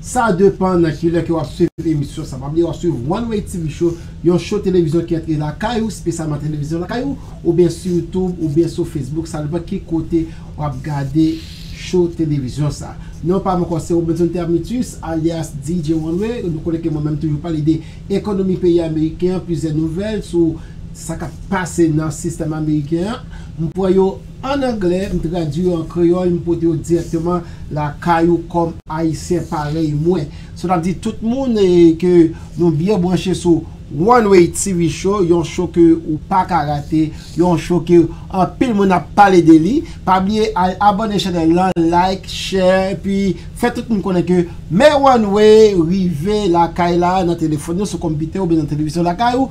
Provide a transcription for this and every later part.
Sa depan nan kilè ke wap swiv emisyon sa. Pa bliye wap swiv One Way TV Show, yon show televizyon ki antre lakay ou, spesyalman televizyon lakay ou, oubyen sou YouTube, oubyen sou Facebook, sa depan ki kote wap gade show televizyon sa. Non pam ankò se Robenson Termitus alyas DJ One Way, nou konnen ke mwen menm toujou pale de ekonomi peyi ameriken an, plizyè nouvèl sou sa kap pase nan sistèm ameriken an, m pran yo. An anglè, m tradui yo an kreyòl, m pote yo dirèkteman lakay ou kòm Ayisyen parèy mwen. Sa ta di tout moun e ke nou byen branche sou One Way TV Show, yon show ke ou pa ka rate, yon show ke anpil moun ap pale de li. Pa bliye al abòne chanèl lan, like, share, epi fè tout moun konnen ke Men One Way rive lakay la, nan telefòn ou, sou konpitè oubyen nan televizyon lakay ou.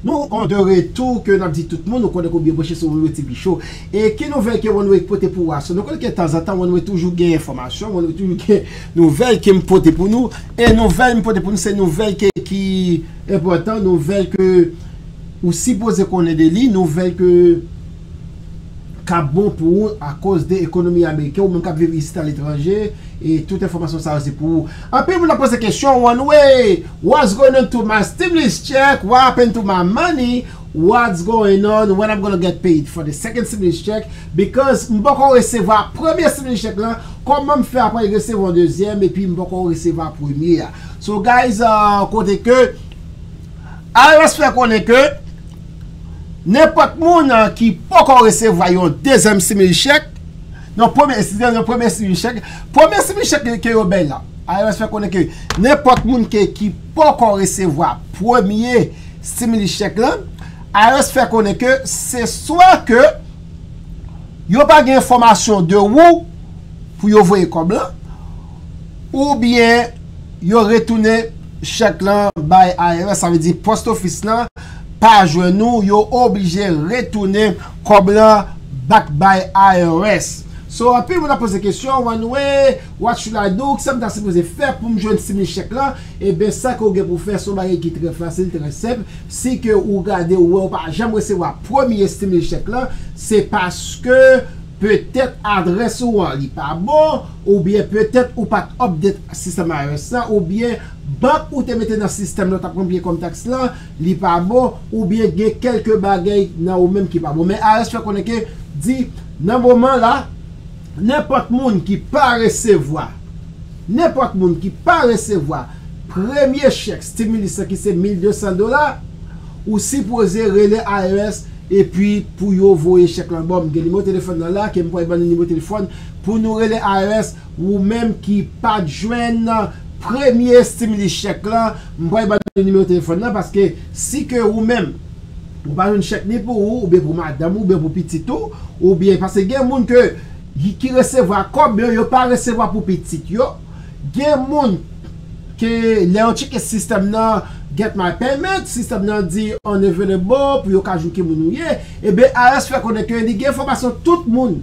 Nou an de retou ke nap di tout moun nou konnen ke ou byen branche sou One-way TV show e ki nouvèl ke One-way pote pou ou aswè nou konnen ke tanzantan One-way toujou gen enfòmasyon One-way toujou gen nouvèl ke m pote pou nou e nouvèl m pote pou nou se nouvèl ke ki enpòtan nouvèl ke ou sipoze konnen de li nouvèl ke kap bon pou ou akoz de ekonomi ameriken ou menm kap viv isit aletranje e tout enfòmasyon sa yo se pou ou anpil moun ap poze kesyon one way what's going on to my stimulus check what happened to my money what's going on when I'm gonna get paid for the second stimulus check because m poko resevwa premye stimulus check lan kòman m fè apre resevwa yon dezyèm epi m poko resevwa premye a so guys kote ke IRS fè konnen ke. Nenpòt moun ki poko resevwa yon dezyèm simil chèk, yon premye simil chèk, premye simil chèk, premye simil chèk ke yo bay la, IRS fè konnen ke nenpòt moun ke ki poko resevwa premye simil chèk lan, IRS fè konnen ke se swa ke yo pa gen enfòmasyon de ou pou yo voye kòb lan, ou byen yo retounen chèk lan bay IRS, sa vle di post office lan. pa jwenn nou yo oblije retounen kòb lan back bay IRS so anpil moun ap poze kesyon one way what should I do kisam ta sipoze fè poum jwenn stimulus check lan ebyen sa ke ou gen pou fè son bagay ki trè fasil trè senp si ke ou gade ou wè ou pa janm resevwa premye stimulus check lan se paske petèt adrès ou an li pa bon oubyen petèt ou pat update sistèm IRS la oubyen bank ou te mete nan sistèm lan tap konn peye kòm taks lan, li pa bon, oubyen gen kèlke bagay nan ou menm ki pa bon. Men IRS fè konnen ke di nan moman la, nenpòt moun ki pa resevwa, nenpòt moun ki pa resevwa premye chèk stimulus lan ki se 1200 dola, ou sipoze rele IRS epi pou yo voye chèk lan ba w. M gen nimewo telefòn nan la ke m pwal ban nou nimewo telefòn pou nou rele IRS Ou menm ki pat jwenn premye stimulus chèk lan, m pral ba nou nimewo telefòn nan paske si ke ou menm ou pa jwenn chèk ni pou ou oubyen pou madanm ou oubyen pou pitit ou oubyen paske gen moun ke ki resevwa kòb yo yo pa resevwa pou pitit yo gen moun ke lè yo tcheke sistèm nan get my payment sistèm nan di unavailable pou yo ka jwenn ki moun ou ye, eben IRS fè konnen ke li gen enfòmasyon tout moun.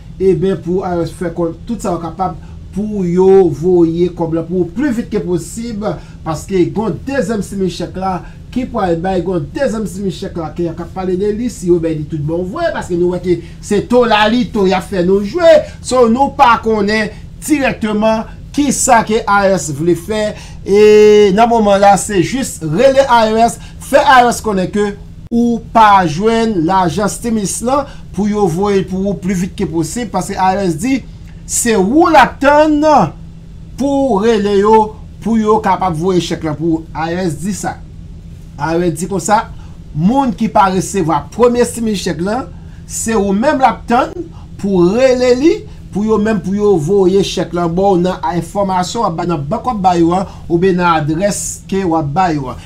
Eben pou IRS fè konn tout sa yo kapab pou yo voye kòb la pou ou pli vit ke posib paske gon dezyèm simi chèk la ki pwal bay gon dezyèm simi chèk la ke ya ka pale de li si yo bè li tout bon vwe paske nou wè ke se to lalito yap fè nou jwe so nou pa konnen dirèkteman ki sa ke IRS vle fè e nan moman la se jis rele IRS fè IRS konnen ke Ou pa jwenn lajan stimis lan pou yo voye l pou ou pli vit ke posib paske IRS di se ou l ap tann pou w rele yo pou yo kapab voye chèk lan pou ou. IRS di sa. IRS di konsa, moun ki pa resevwa premye stimis chèk lan, se ou menm l ap tann pou w rele li pou yo menm pou yo voye chèk lan ba w nan enfòmasyon w ap bay nan bank w ap bay yo an oubyen nan adrès ke w ap bay yo an.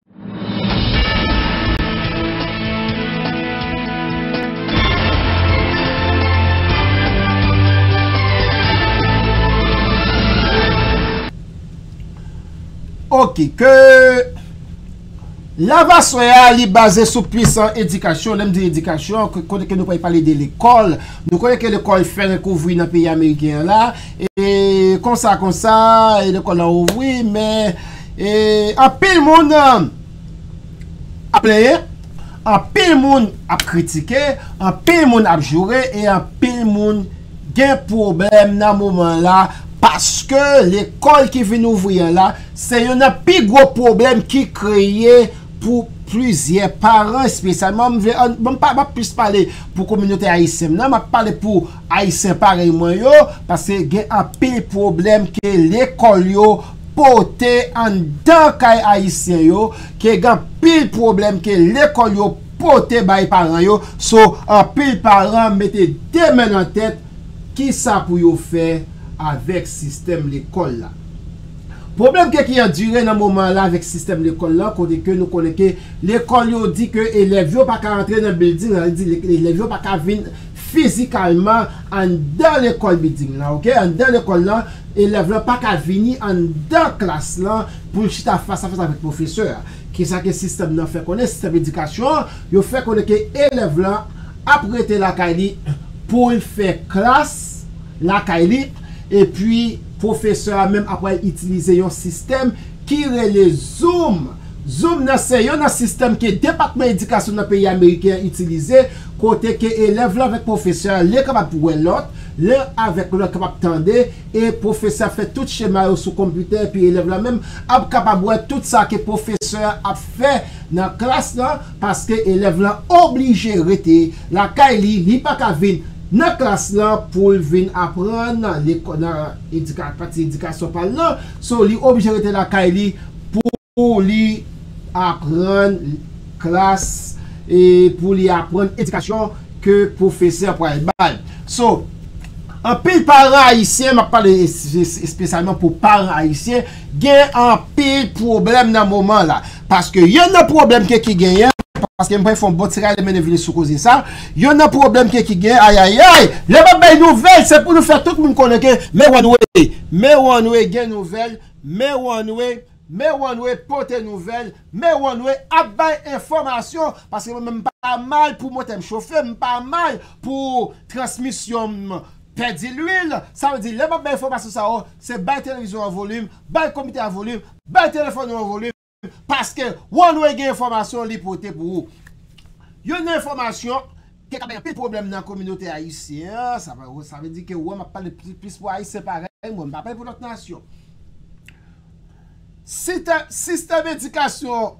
Ok ke Lavaswe a li baze sou pwisan edikasyon, lèm di edikasyon kote ke nou pa pale de lekòl nou konnen ke lekòl fè rekouvri nan peyi ameriken an la e konsa konsa e lekòl la ouvri men E anpil moun ap plenyen, anpil moun ap kritike, anpil moun ap joure e anpil moun gen pwoblèm nan moman la paske lekòl ki vin ouvri an la se youn nan pi gwo pwoblèm ki kreye pou plizyè paran espesyalman m vle an m pa ap plis pale pou kominote ayisyen m nan m ap pale pou ayisyen parèy mwen yo paske gen anpil pwoblèm ke lekòl yo pote anndan kay ayisyen yo ke gen anpil pwoblèm ke lekòl yo pote bay paran yo so anpil paran mete 2 men nan tèt kisa pou yo fè avèk sistèm lekòl la. Pwoblèm ke ki andire nan moman la avèk sistèm lekòl la kote ke nou konnen ke lekòl yo di ke elèv yo pa ka antre nan bilding la vle di elèv yo pa ka vin fizikalman anndan lekòl bilding lan ok anndan lekòl lan elèv lan pa ka vini anndan klas lan pou l chita fas a fas avèk pwofesè a ki sa ke sistèm nan fè konnen sistèm edikasyon an yo fè konnen ke elèv lan ap rete lakay li pou l fè klas lakay li epi pwofesè a menm ap pral itilize yon sistèm ki rele Zoom. Zoom nan se yon nan sistèm ke Depatman Edikasyon nan peyi Ameriken an itilize, kote ke elèv lan avèk pwofesè a len kapab wè lòt, len avèk lòt kapab tande, e pwofesè ap fè tout chema yo sou konpitè epi elèv lan menm ap kapab wè tout sa ke pwofesè a ap fè nan klas lan, paske elèv lan oblije rete lakay li, li pa ka vin nan klas lan pou l vin aprann nan pati edikasyon pa l lan. So li oblije rete lakay li pou li aprann klas e pou li aprann edikasyon ke pwofesè pral bay. So anpil paran ayisyen, map pale espesyalman pou paran ayisyen gen anpil pwoblèm nan moman la. Paske yonn nan pwoblèm ke ki genyen, paske m pral fè yon bon ti rale mennen vini sou koze sa, yonn nan pwoblèm ke ki genyen, ayayay! Lè m ap bay nouvèl, se pou nou fè tout moun konnen ke Mewanwe, Mewanwe gen nouvèl, Mewanwe, Mewanwe pote nouvèl, Mewanwe ap bay enfòmasyon, paske mwen menm m pa mal pou motè m chofe, m pa mal pou transmisyon m pèdi lwil, sa vle di lè m ap bay enfòmasyon sa yo, se bay televizyon an volim, bay komite a volim, Bay telefòn ou an volim paske One-Way gen enfòmasyon li pote pou ou. Youn nan enfòmasyon ki ka bay anpil pwoblèm nan kominote ayisyen an, sa pa sa vle di ke wè m ap pale plis pou ayisyen parèy mwen, m pa pale pou lòt nasyon. Sitè sistèm edikasyon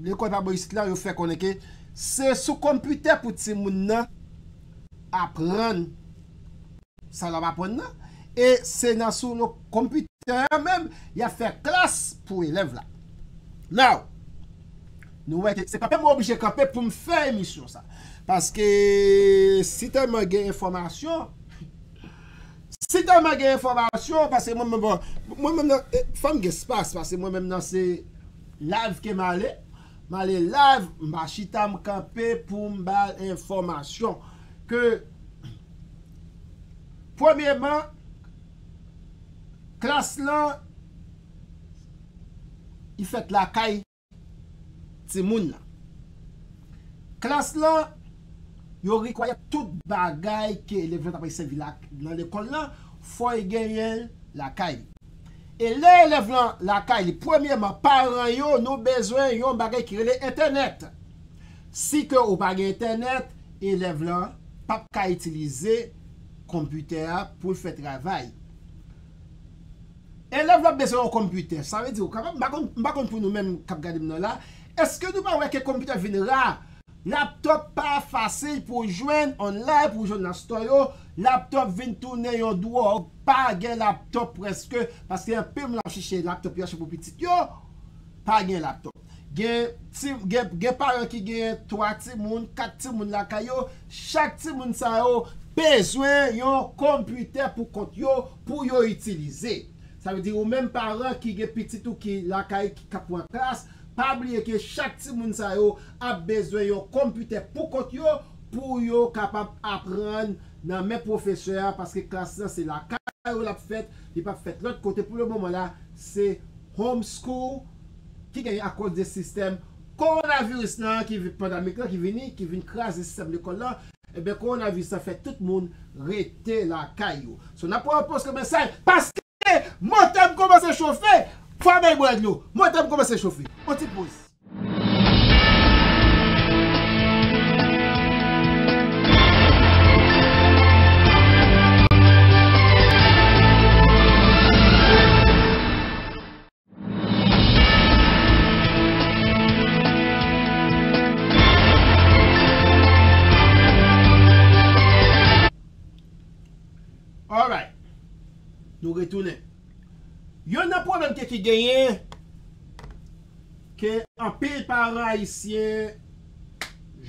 lekòl pa bò isit la yo fè konnen ke se sou konpitè pou timoun nan aprann. Sa lap aprann nan? E se nan sou yon konpitè an menm yap fè klas pou elèv la. Now, nou wè ke se kanpe mwen oblije kanpe poum fè emisyon sa. Paske si tèlman gen enfòmasyon, si tèlman gen enfòmasyon, pase mwen menm bon, mwen menm nan, fòm gen spas, pase mwen menm nan se live ke male, male live, mpa chita mkanpe poum bal enfòmasyon ke. Premyeman, klas lan li fèt lakay timoun nan. Klas lan, yo require tout bagay ke elèv lan ta pral sèvi nan lekòl lan, fò li genyen l lakay li. E lè elèv lan lakay li, premyeman, paran yo, nou bezwen yon bagay ki rele entènèt. Si ke ou pa gen entènèt, elèv la pap ka itilize konpitè a pou l fè travay. Elèv la ap bezwen yon konpitè. Sa vle di ou kapab, m pa konn, m pa konn pou nou menm k ap gade m nan la, èske nou pa wè ke konpitè vin ra? Laptop pa fasil pou w jwenn online, pou w jwenn nan store yo, laptop vin tounen yon dwòg, pa gen laptop prèske, paske anpil moun ap chèche laptop yo achte pou pitit yo, pa gen laptop. Gen paran ki genyen 3 timoun, 4 timoun lakay yo, chak timoun sa yo bezwen yon konpitè pou kont yo pou yo itilize. Sa vle di ou menm paran ki gen pitit ou ki lakay ki kap pran klas, pa bliye ke chak timoun sa yo ap bezwen yon konpitè pou kont yo pou yo kapab aprann nan men pwofesè a paske klas lan se lakay yo lap fèt, li pap fèt lòt kote pou le moman la se Home School. ki genyen akoz de sistèm kowonaviris nan ki pandamik lan ki vini, ki vin kraze sistèm lekòl lan, enben kowonaviris lan fè tout moun rete lakay yo. So n ap pran yon poz kòm esay paske motè m kòmanse chofe, fwa bay bwè dlo, motè m kòmanse chofe. On ti poz. Alright Nou retounen Yon nan pwoblèm ke ki genyen Ke anpil paran ayisyen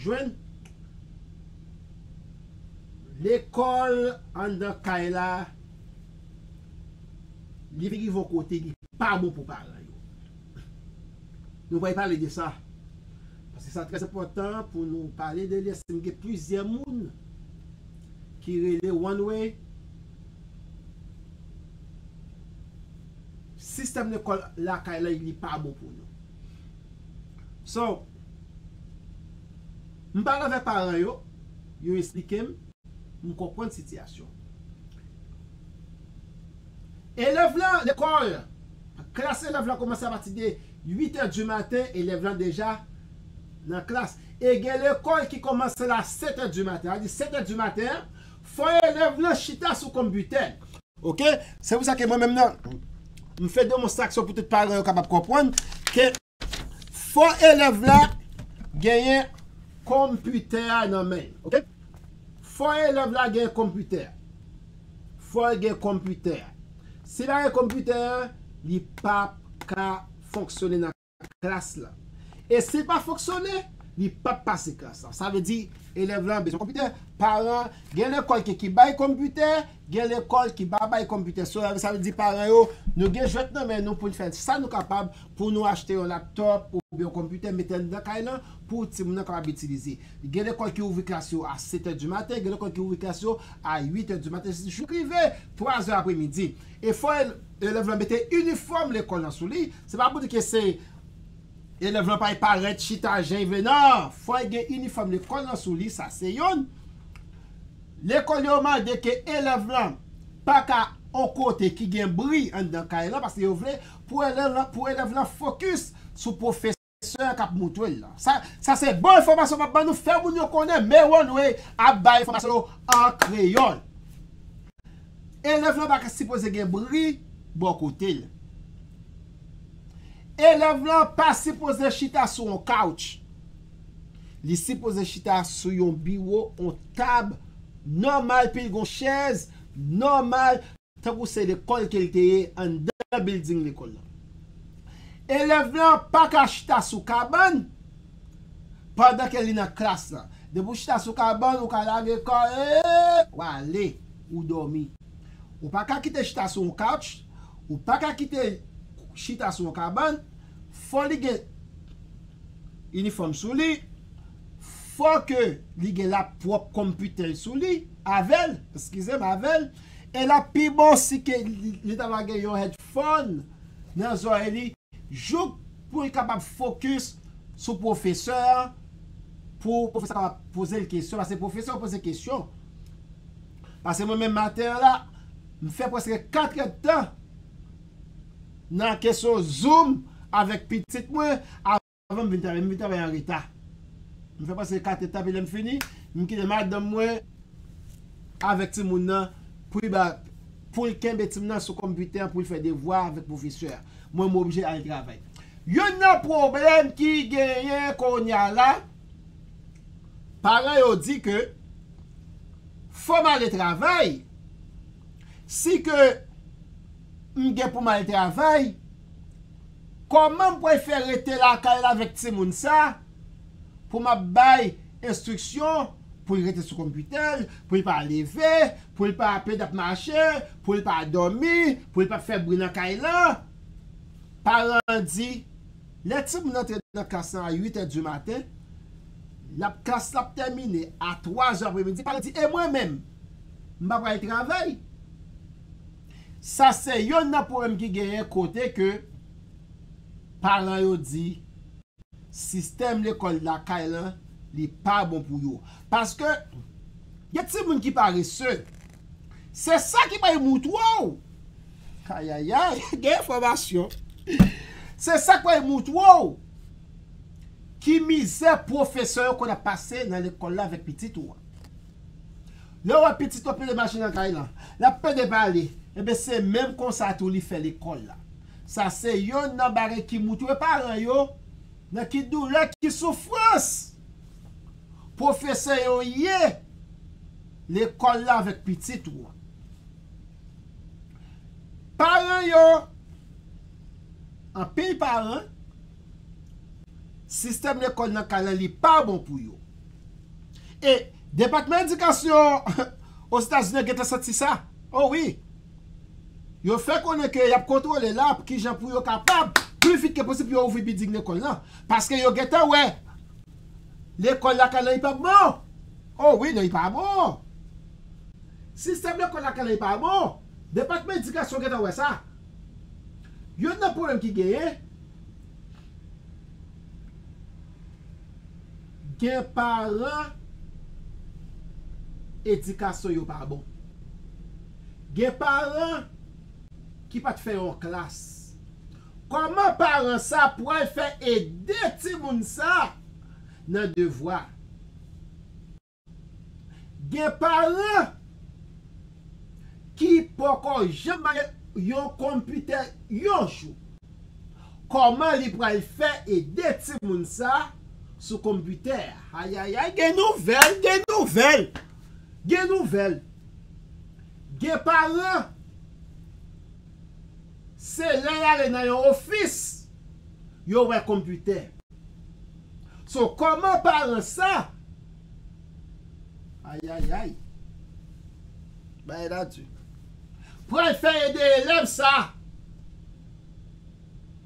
Jwenn Lekòl Anndan kay la Li rive yon kote li pa bon pou paran yo. Nou pral pale de sa. Paske sa trè enpòtan pou nou pale de li eske m gen plizyè moun ki rele one way. Sistèm lekòl lakay la li pa bon pou nou. So, m pale avèk paran yo, yo esplike m. M konprann sitiyasyon elèv la lekòl. Klas elèv la kòmanse apati de 8 è di maten, elèv la deja nan klas. E gen lekòl ki kòmanse la 7 è di maten. Sa vle di 7 è di maten an, fò elèv lan chita sou konbitè l. Ok, se pou sa ke mwen menm nan, m fè demonstraksyon pou tout paran yo kapab konprann ke. Fò elèv la genyen konpitè a nan men l. Ok. Fò elèv la genyen konpitè a. Fò l gen konpitè a. Si l pa gen konpitè a, li pa p ka fonksyone nan klas la. E si l pa fonksyone, li pa p pase klas la. Sa vle di, elèv la bezwen konpitè. Paran, gen lekòl ki bay konpitè, Gen lekòl ki pa bay konpitè solèr, sa vle di paran yo, nou gen jwèt nan men nou pou n fè sa nou kapab pou nou achte yon laptòp oubyen yon konpitè mete anndan kay lan pou timoun nan kapab itilize. Gen lekòl ki ouvri klas yo a setè di maten, gen lekòl ki ouvri klas yo a uitè di maten jouk rive twazè apremidi. E fò elèv lan mete inifòm lekòl lan sou li, se pa pou di ke se elèv lan pa parèt chita jan li vle nan, fò l gen inifòm lekòl lan sou li, sa se youn. Lekòl yo mande ke elèv lan pa ka on kote ki gen bri anndan kay lan paske yo vle pou elèv lan pou elèv lan fokis sou pwofesè a k ap moutwe l lan. Sa sa se bon enfòmasyon m ap ban nou fè moun yo konnen Meronway ap bay enfòmasyon yo an kreyòl. Elèv lan pa ka sipoze gen bri bò kote l. Elèv lan pa sipoze chita sou on kawch. Li sipoze chita sou yon biwo, on tab nòmal pil gon chèz nòmal tankou se lekòl ke l te ye anndan bilding lekòl lan. Elèv lan pa ka chita sou kabann pandan ke li nan klas lan. Depi ou chita sou kabann ou ka lage kò e w ale, ou dòmi. Ou pa ka kite chita sou on couch, ou pa ka kite chita sou on kabann, fò li gen. inifòm sou li, fò ke li gen lap pwòp konpitè l sou li, avè l, eskize m, avè l, e lap pi bon si ke li ta va gen yon hèdfòn nan zòrèy li, jouk pou l kapab fokis sou pwofesè an, pou pwofesè an kapab poze l kesyon, paske pwofesè yo poze kesyon. Paske mwen menm maten an la, m fè prèske 4 èdtan. nan kesyon zoom avèk pitit mwen avan m vin travay, m vin travay an reta. M fè prèske 4 èdtan epi lè m fini, m kite madanm mwen avèk timoun nan pou li ba pou l kenbe timoun nan sou konpitè an pou l fè devwa avèk pwofesè a. Mwen m oblije al travay. Youn nan pwoblèm ki genyen kounye a la, paran yo di ke fò m ale travay, Si ke m gen pou m al travay, kòman m pral fè rete lakay la avèk timoun sa pou m ap bay enstriksyon pou l rete sou konpitè l, pou l pa leve, pou l pa apeine ap mache, pou l pa dòmi, pou l pa fè bri nan kay lan? Paran an di. Lè ti moun antre nan klas lan a 8 è di maten, l ap klas la ap tèmine a 3 zè apre midi, paran di, e mwen menm? M pa pral travay? Sa se yonn nan pwoblèm ki genyen kote ke paran yo di sistèm lekòl lakay lan li pa bon pou yo. Paske gen ti moun ki parese, se sa ki bay moutwa w! Ayayay gen enfòmasyon. Se sak wè moutre w ki mizè pwofesè yo konn ap pase nan lekòl la avèk pitit ou an. Lè w wè pitit ou ap pede mache nan kay lan, l ap pede pale, enben se menm konsa tou li fè lekòl la. Sa se yonn nan bagay ki moutre paran yo nan ki doulè, ki soufrans pwofesè yo ye. lekòl la avèk pitit ou an. Paran yo, anpil paran, sistèm lekòl nan kay la li pa bon pou yo. E Depatman Edikasyon Ozetazini an gentan santi sa. O wi! Yo fè konnen ke y ap kontwole la pou kijan pou yo kapab pi vit ke posib pou yo ouvri bilding lekòl la. Paske yo gentan wè lekòl lakay la li pa bon. Oh wi non li pa bon. Sistèm lekòl lakay la li pa bon. Depatman edikasyon gentan wè sa. Youn nan pwoblèm ki genyen, gen paran edikasyon yo pa bon. Gen paran ki pat fè yon klas. Kòman paran sa pwal fè ede timoun sa? nan devwa. Gen paran ki poko janm bay yon konpitè yon jou. Koman li pral fè ede timoun sa sou konpitè ayayay gen nouvèl gen nouvèl gen nouvèl gen paran se lè yale nan yon ofis yo wè konpitè. So koman paran sa. Ayayay. Bagay la du. Pral fè ede elèv sa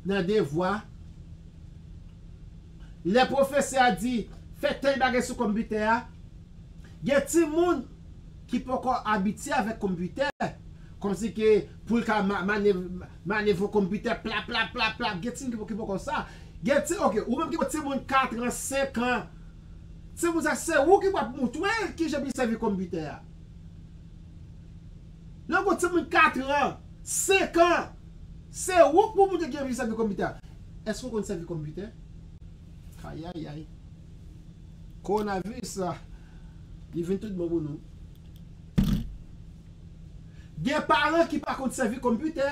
nan devwa. Lè pwofesè a di fè tèl bagay sou konpitè a. Gen timoun ki poko abitye avèk konpitè. Komsi ke poul ka Mane fo konpitè plaplaplaplap gen timoun ki poko sa gen ti ok ou menm ki gen timoun 4 an 5 an timoun sa se ou ki pou ap moutre kijan pou li sèvi konpitè a lè ou gen timoun 4 an 5 an se ou ki pou moutre kijan pou li sèvi konpitè a èske ou konn sèvi konpitè ayayay kowonaviris la li vin tout bon pou nou. Gen paran ki pa konn sèvi konpitè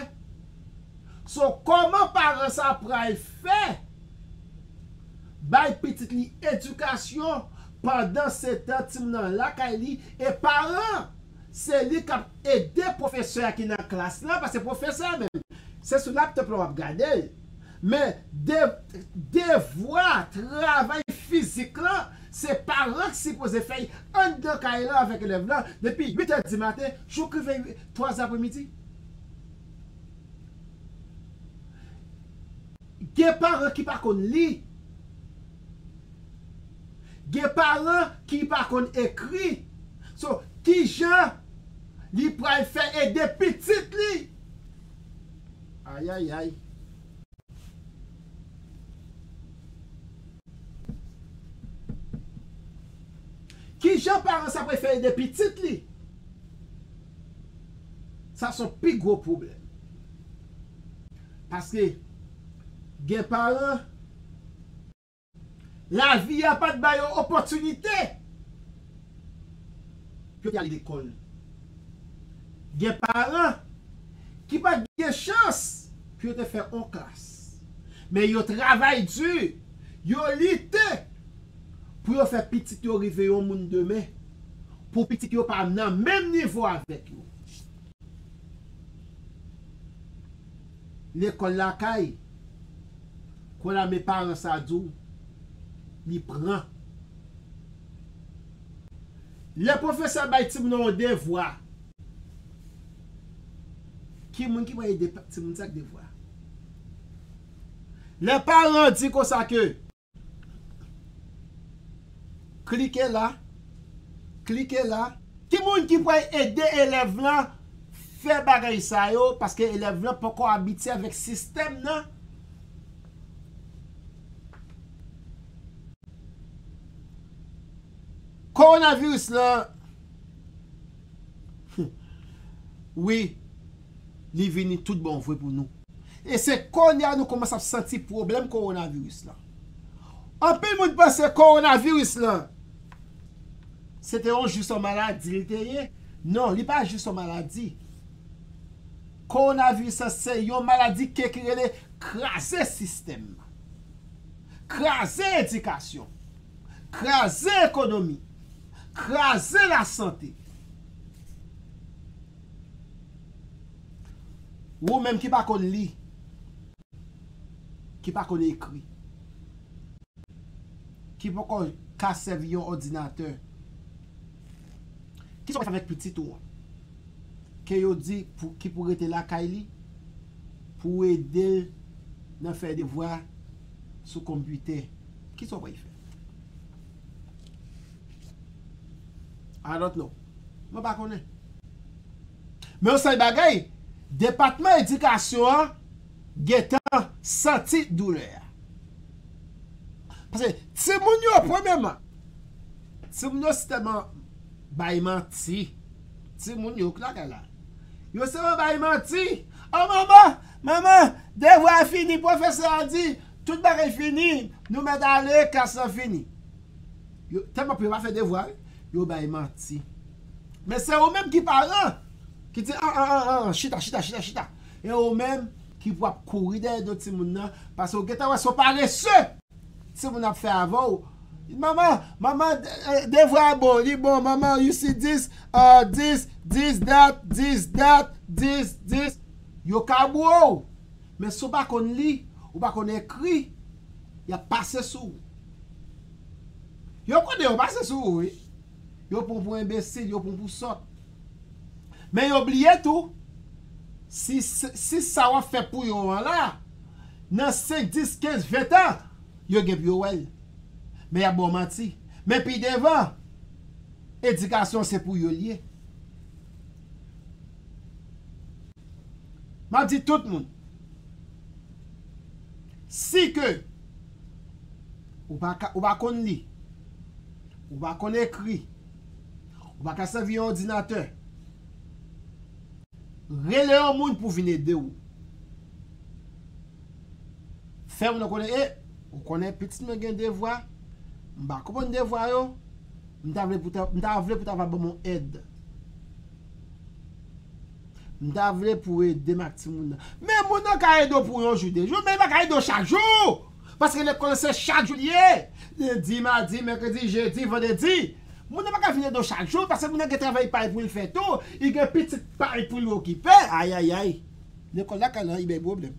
so kòman paran sa pral fè bay pitit li edikasyon pandan setan timoun nan lakay li e paran se li kap ede pwofesè a ki nan klas lan paske pwofesè a menm se sou laptop lan wap gadel Men, devwa, travay fizik lan, se paran ki sipoze fè li anndan kay lan avèk elèv lan depi 8 è dimaten jouk rive 3 apremidi. Gen paran ki pa konn li. Gen paran ki pa konn ekri. So, kijan li pral fè ede pitit li? Kijan paran sa prefe ede pitit li? Sa son pi gwo pwoblèm. Paske gen paran. Lavi a pa t ba yo opòtinite pou yo te ale lekòl. Gen paran ki pa t gen chans pou yo te fè on klas. Men yo travay di, yo lite pou yo fè pitit yo rive yon moun demen, pou pitit yo pa nan menm nivo avèk yo. Lekòl lakay, kò lame paran sa di w li pran. Lè pwofesè bay timoun nan yon devwa, ki moun ki pral ede timoun sa ak devwa a? Lè paran di konsa ke. Klike la Klike la. Ki moun ki pral ede elèv lan fè bagay sa yo paske elèv lan poko abitye avèk sistèm nan? Kowonaviris lan Wi. li vini tout bon vre pou nou. E se kounye a nou kòmanse ap santi pwoblèm kowonaviris lan. Anpil moun panse kowonaviris lan se te yon jis yon maladi li te ye. Non, li pa jis yon maladi. Kowonaviris lan se yon maladi ke ki rele kraze sistèm nan. Kraze edikasyon. Kraze ekonomi. Kraze lasante. Wou menm ki pa konn li, ki pa konn ekri, ki poko ka sèvi yon òdinatè, kisa w ka fè avèk pitit ou an ke yo di ki pou rete lakay li pou w ede l nan fè devwa sou konpitè? Kisa w pral fè? I don't know. Mwen pa konnen. Men yon sèl bagay, depatman edikasyon an gentan santi doulè a. Paske timoun yo premyèman, timoun yo se tèlman bay manti. Timoun yo ki lakay la. Yo se tèlman bay manti. O manman, manman, devwa a fini, pwofesè a di, tout bagay fini, nou mèt ale, klas lan fini. Yo telman pè yo pa fè devwa wi. Yo bay manti. Men se ou menm ki paran ki di an an an an chita chita chita chita. E ou menm ki pou ap kouri dèyè do timoun nan paske ou gentan wè se yon parese timoun nan ap fè avè ou. Manman, manman devwa a bon, li bon manman you see this ahh this this that this that this this Yo ka bro w men si w pa konn li, ou pa konn ekri, y ap pase sou ou. Yo konnen yo pase sou ou wi. Yo pran w pou enbesil, yo pran w pou sòt. Men yo bliye tou, si si sa w ap fè pou yo an la, nan senk, dis, kenz, ven tan, yo gen pou yo wè l. Men y ap ba w manti. Men pi devan, edikasyon se pou yo l ye. M ap di tout moun, si ke. Ou pa ka, ou pa konn li. Ou pa konn ekri. Ou pa ka sèvi yon òdinatè. Rele yon moun pou vin ede ou. Fè moun nan konnen, e, ou konnen pitit mwen gen devwa, m pa konprann devwa yo, m ta vle pou ta va ban m yon èd. M ta vle pou edem ak timoun nan. Men moun nan ka ede w pou yon jou de jou men li pa ka ede w chak jou paske lekòl lan se chak jou li ye lendi madi mèkredi jedi vandredi moun nan pa ka vin ede w chak jou paske moun nan gen travay pa l pou l fè tou li gen pitit pa l pou l okipe ayayay lekòl lakay lan li bay pwoblèm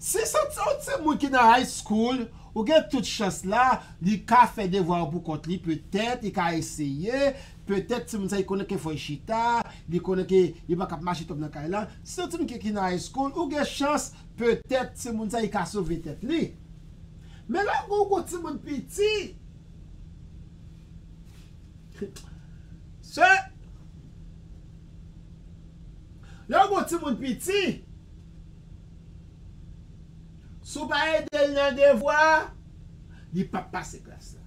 si se t yon timoun ki nan high school ou gen tout chans la li ka fè devwa yo pou kont li petèt li ka eseye. Petèt timoun sa li konnen ke fò li chita, li konnen ke li pa kab mache twòp nan kay la. Si yon timoun ki ki nan high school, ou gen chans petèt timoun sa li ka sove tèt li. Men lè ou gen yon gwo timoun piti, se, lè ou gen yon timoun piti, si ou pa ede l nan devwa, li p ap pase klas la.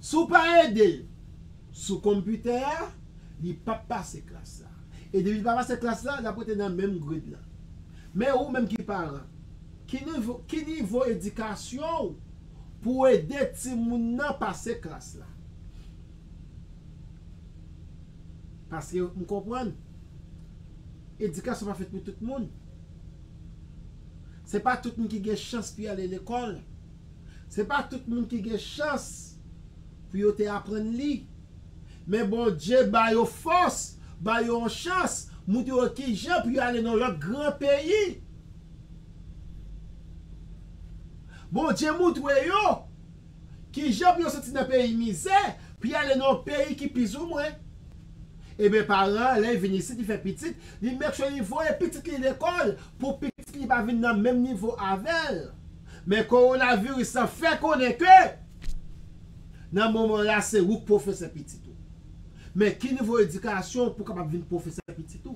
Si w pa ede l sou konpitè a, li pap pase klas la. E depi li pa pase klas la, l ap rete nan menm grade lan. Men ou menm ki paran, ki nivo edikasyon w pou w ede timoun nan pase klas la? Paske m konprann, edikasyon pa fèt pou tout moun. Se pa tout moun ki gen chans pou y ale lekòl. Se pa tout moun ki gen chans pou yo te aprann li. Men Bondye ba yo fòs, ba yo yon chans, moutre yo ki jan pou yo ale nan lòt gran peyi. Bondye moutre yo. Ki jan pou yo soti nan peyi mizè pou y ale nan yon peyi ki pi zoumwen? Eben paran an lè y vin isit li fè pitit, li make sure li voye pitit li lekòl pou pitit li pa vin nan menm nivo avè l. Men kowonaviris lan fè konnen ke nan moman la se ou k pwofesè pitit ou. Men ki nivo edikasyon pou w kapab vin pwofesè pitit ou?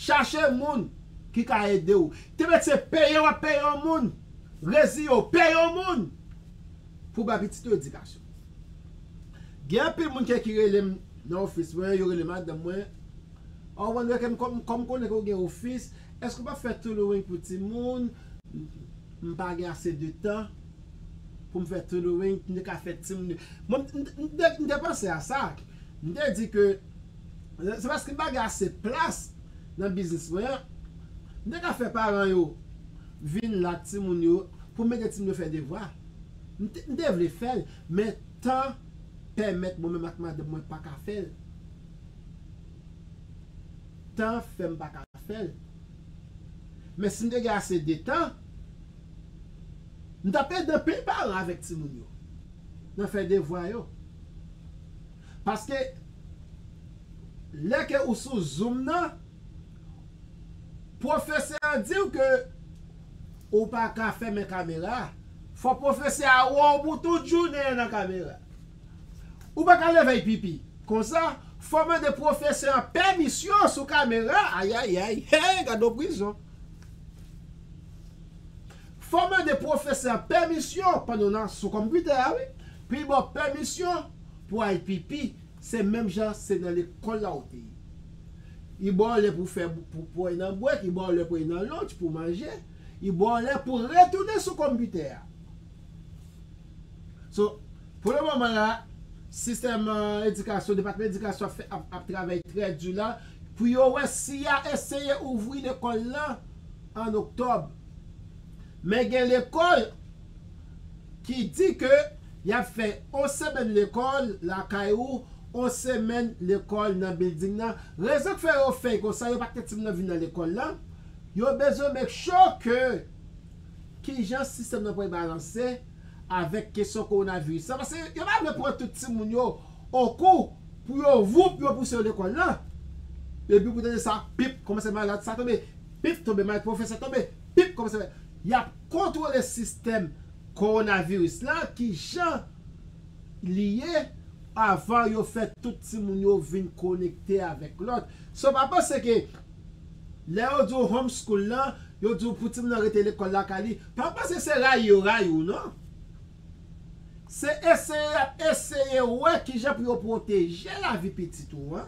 Chache moun ki ka ede w. Te mete se peye w ap peye yon moun. Resi yo peye yon moun pou bay pitit yo edikasyon. Gen anpil moun ke ki rele m nan ofis mwen, yo rele madanm mwen, Oh Wonder kèm kòm kòm konnen ke w gen ofis, èske w pa fè tailoring pou timoun? M pa gen ase de tan pou m fè tailoring, m te ka fè timoun yo. Mwen m te panse a sa, m te di ke se paske m pa gen ase plas nan biznis mwen an, m te ka fè paran yo vin la ak timoun yo pou m ede timoun yo fè devwa. M te vle fè l, men tan pèmèt mwen menm ak madanm mwen pa ka fè l. Tan fè m pa ka fè l. Men si m te gen ase de tan, m t ap ede anpil paran avèk timoun yo nan fè devwa yo. Paske lè ke ou sou zoom nan. Pwofesè an diw ke ou pa ka fèmen kamera a. Fò pwofesè a wè w pou tout jounen an nan kamera. Ou pa ka leve pipi. Konsa, fò w mande pwofesè an pèmisyon sou kamera. Ayayay! Hey! Gad on prizon! Fò w mande pwofesè an pèmisyon pandan w nan sou konpitè a wi. Pi ba w pèmisyon pou w al pipi Se menm jan se nan lekòl la ou te ye. Li ba w lè pou fè pou pou al nan bwèt, li ba w lè pou al nan lunch, pou manje, li ba w lè pou retounen sou konpitè a. So, pou le moman la, sistèm edikasyon, depatman edikasyon ap fè ap ap travay trè di la pou yo wè si y a eseye ouvri lekòl lan an oktòb. Men gen lekòl. ki di ke yap fè on semèn lekòl lakay ou, on semèn lekòl nan bilding nan, rezon k fè yo fè konsa yo pa k fè timoun nan vin nan lekòl la, yo bezwen make sure ke kijan sistèm nan pral balanse avèk kesyon kowonaviris la, paske yo pa vle pran tout timoun yo okou pou yo voup yo pouse yo lekòl nan, epi pou tande sa pip kòmanse malad sa tonbe, pip tonbe malad pwofesè tonbe, pip kòmanse yap. kontwole sistèm kowonaviris la ki jan li ye avan yo fè tout timoun yo vin konekte avèk lòt. So pa panse ke lè yo di w home school la, yo di w pou timoun nan rete lekòl lakay li, pa panse se rayi yo rayi w non. Se eseye y ap eseye wè ki jan pou yo pwoteje lavi pitit ou an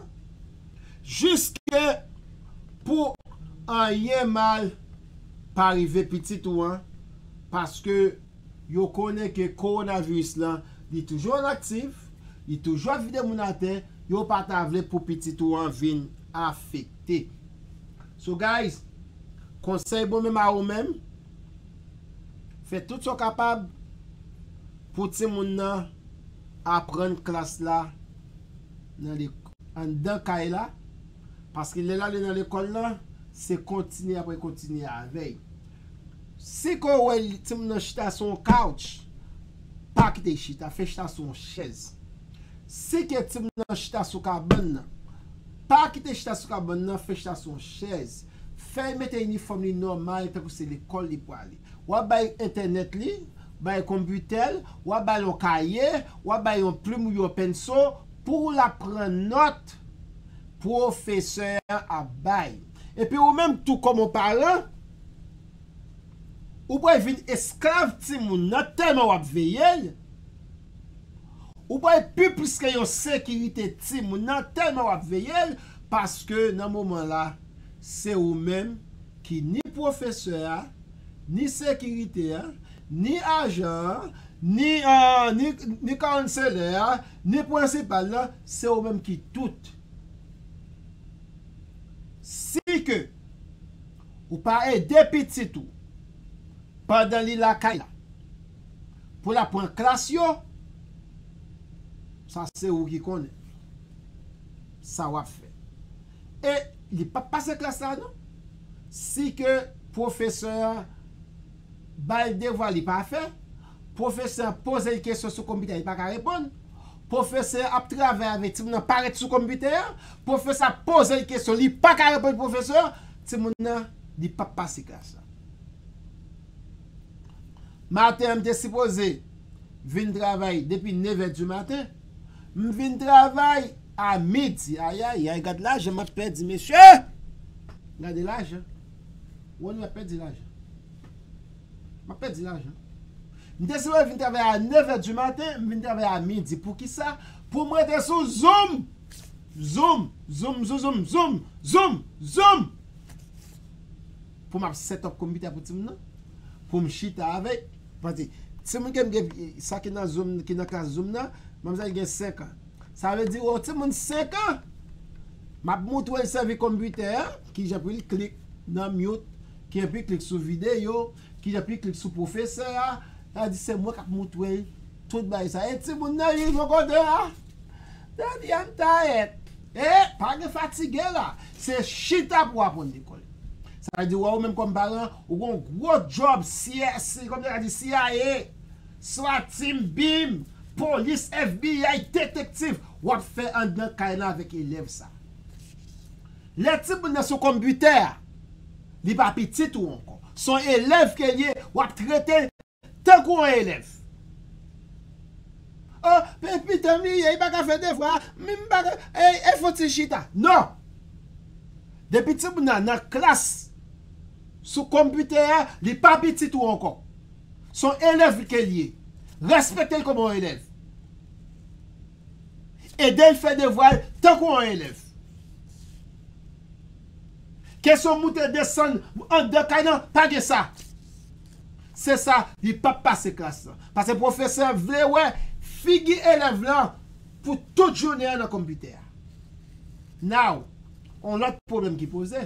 jiske pou anyen mal. pa rive pitit ou an paske yo konnen ke kowonaviris lan li toujou an aktif, li toujou ap vide moun atè, yo pa ta vle pou pitit ou an vin afekte. So guys, konsèy bon menm a ou menm, fè tout sa w kapab pou timoun nan aprann klas la nan anndan kay la Paske lè l ale nan lekòl la, se kontinye apre kontinye avè l. Si ke w wè timoun nan chita sou yon kawch, pa kite l chita, fè l chita sou yon chèz. Si ke timoun nan chita sou kabann nan, pa kite l chita sou kabann nan, fè l chita sou yon chèz. Fè l mete inifòm li nòmal tankou se lekòl li prale. W ap bay entènèt li, bay konpitè l, w ap ba l yon kaye, w ap ba l yon plim ou yon penso, Pou w la pran nòt pwofesè an ap bay. Epi ou menm tou kòm on paran, ou pral vin esklav timoun nan tèlman w ap veye l, ou pral pi plis ke yon sekirite timoun nan tèlman w ap veye l, paske nan moman la, se ou menm ki ni pwofesè a, ni sekirite a, ni ajan an, ni kanselè a, Nen pwensipal lan se ou menm ki tout. Si ke ou pa ede pitit ou pandan li lakay la pou la pran klas yo, sa se ou ki konnen sa wap fè. E li pap pase klas la non si ke pwofesè an. ba l devwa li pa fè, pwofesè an poze l kesyon sou konpitè a li pa ka reponn, pwofesè an ap travay avèk timoun nan pa ret sou konpitè a, pwofesè ap poze l kesyon li pa ka reponn pwofesè an, timoun nan li p ap pase klas la. Maten an m te sipoze vin travay depi nevè di maten, m vin travay a midi ayayay gad lajan m ap pèdi mesye! Gade lajan! Wè nou ap pèdi lajan. M ap pèdi lajan. M deside vin travay a nevè di maten, m vin travay a midi. Poukisa? Pou m rete sou zoom! Zoom! Zoom zouzoum! Zoom! Zoom! Zoom! Pou m ap setòp konpitè pou timoun nan. Pou m chita avèk. Pase, timoun ke m gen, sa ki nan zoom, ki nan klas zoom nan, manmzèl gen 5 an. Sa vle di yon timoun 5 an map moutre'l sèvi konpitè a, kijan pou li klik nan mute, kijan pou li klik sou videyo, kijan pou li klik sou pwofesè a, sa vle di se mwen kap moutre'l tout bagay sa e timoun nan rive yon kote la depi an ta et e pa gen fatige la se chita pou aprann lekòl sa vle di wè ou menm kòm paran ou gon gwo djòb CSI kòm yo ta di CIA. Swat team bim polis FBI detektiv wap fè andan kay lan avèk elèv sa lè timoun nan sou konbitè a li pa pitit ou ankò son elèv kel ye wap tretel tankou yon elèv oh e pitanm li ye li paka fè devwa minm paka e fon ti chita non depi timoun nan nan klas sou konbitè a li pa pitit ou ankò. Son elèv li ke li ye. Respekte l kòman yon elèv. Ede l fè devwa l tankou yon elèv. Kesyon moute desann andan kay lan pa gen sa. Se sa li p ap pase klas lan. Pase pwofesè vle wè figi elèv lan pou tout jounen an nan konpitè a. Now, yon lòt pwoblèm ki poze.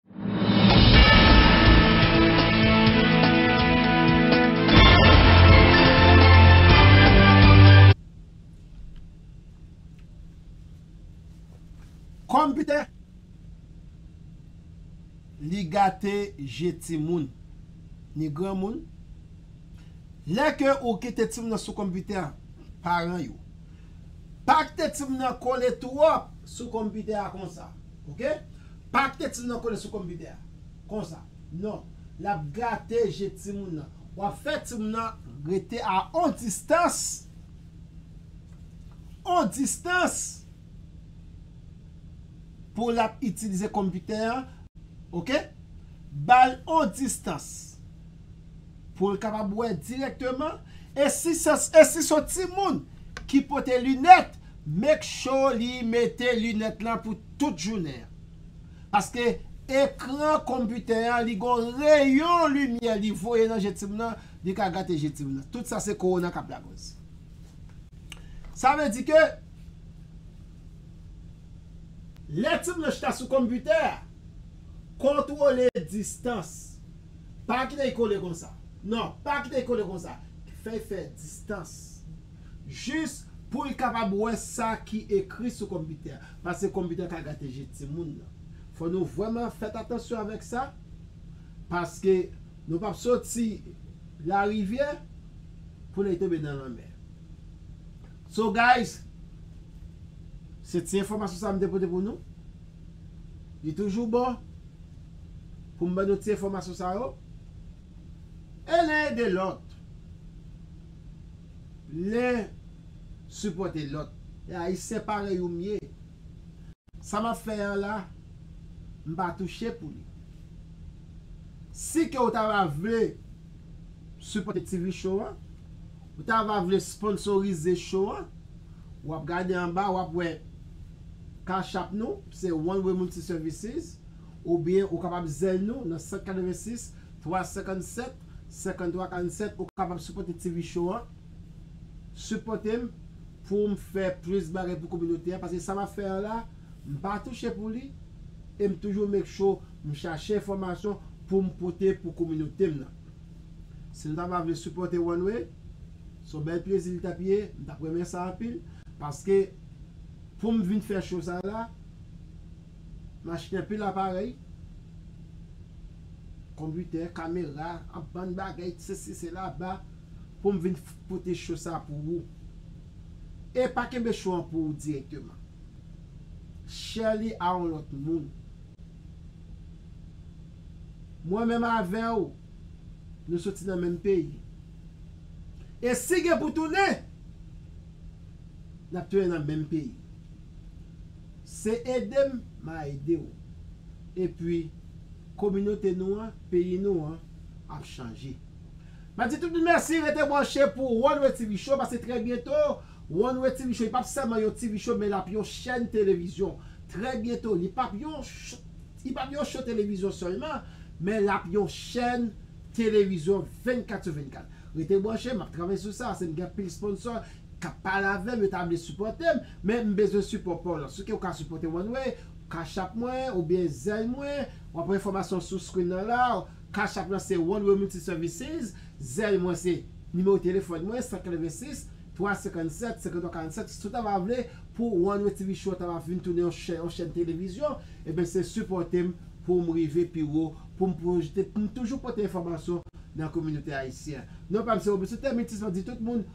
Konpitè Li gate je timoun ni granmoun Lè ke ou kite timoun nan sou konpitè paran yo Pa kite timoun nan kole twòp sou konpitè a konsa. Ok pa kite timoun nan kole sou konpitè a konsa non lap gate je timoun nan wap fè timoun nan rete a on distans on distans pou lap itilize konpitè an ok bal on distans poul kapab wè dirèkteman e si son timoun ki pote linèt Make sure li mete lunette lan pou tout jounen an. Paske ekran computer an li gon rayon limyè li voye nan je timoun nan li ka gate je timoun nan. Tout sa se corona kap lakoz. Sa vle di ke lè timoun nan chita sou computer a kontrole distans. Pa kite li kole konsa. Non pa kite li kole konsa. Fè fè distans. jis pou l kapab wè sa ki ekri sou konpitè a, paske konpitè ka gate je timoun nan. Fò nou vrèman fèt atansyon avèk sa, paske nou p ap soti larivyè pou nèk tonbe nan lanmè. So guys, se ti enfòmasyon sa m te pote pou nou. Li toujou bon pou m ban nou ti enfòmasyon sa yo. E len ede lòt. Lè sipòte lòt. E ayisyen parèy ou m ye. Sa map fè an la m pa touche pou li. Si ke ou ta va vle sipòte TV show an, ou ta va vle sponsorize show an, wap gade anba wap wè cash app nou se One Way Multi Services oubyen ou kapab Zelle nou nan 186 357 53 47 ou kapab sipòte TV show an sipòtem poum fè plis bagay pou kominote a paske sa map fè an la mpa touche pou li em toujou make sure m chache enfòmasyon poum pote pou kominotem nan si nou ta pa vle sipòte one way son bèl plezi li tap ye m tap renmen sa anpil paske poum vin fè show sa la m achte anpil aparèy. Konpitè, kamera, an bann bagay t sesi sela ba pou m vin pote show sa pou ou. E pa kenbe show an pou ou direkteman. Share li a on lòt moun. Mwen menm avè w nou soti nan menm peyi. E si gen pou tounen, n ap tounen nan menm peyi. Se ede m, ma ede w. Epi kominote nou an, peyi nou an ap chanje. Map di tout moun mèsi rete branche pou One-way TV show paske trè byento One-way TV show li pap sèlman yon TV show men lap yon chèn televizyon trè byento li pap yon li pap yon show televizyon sèlman men lap yon chèn televizyon 24 sou 24 rete branche map travay sou sa asem gen anpil sponsor kap pale avèm yo ta vle sipòtem men m bezwen sipò paw lan souke ou ka sipòtem one way cash app mwen oubyen zelle mwen wap wè enfòmasyon sou screen nan la cash app lan se one way multi services zelle mwen se nimewo telefòn mwen 186 357 53 47 si ou ta va vle pou one way TV show an ta va vin tounen yon chèn televizyon ebyen se sipòtem poum rive pi wo poum pwojte poum toujou pote enfòmasyon nan kominote ayisyen non pam se Robusto Thermitis map di tout moun.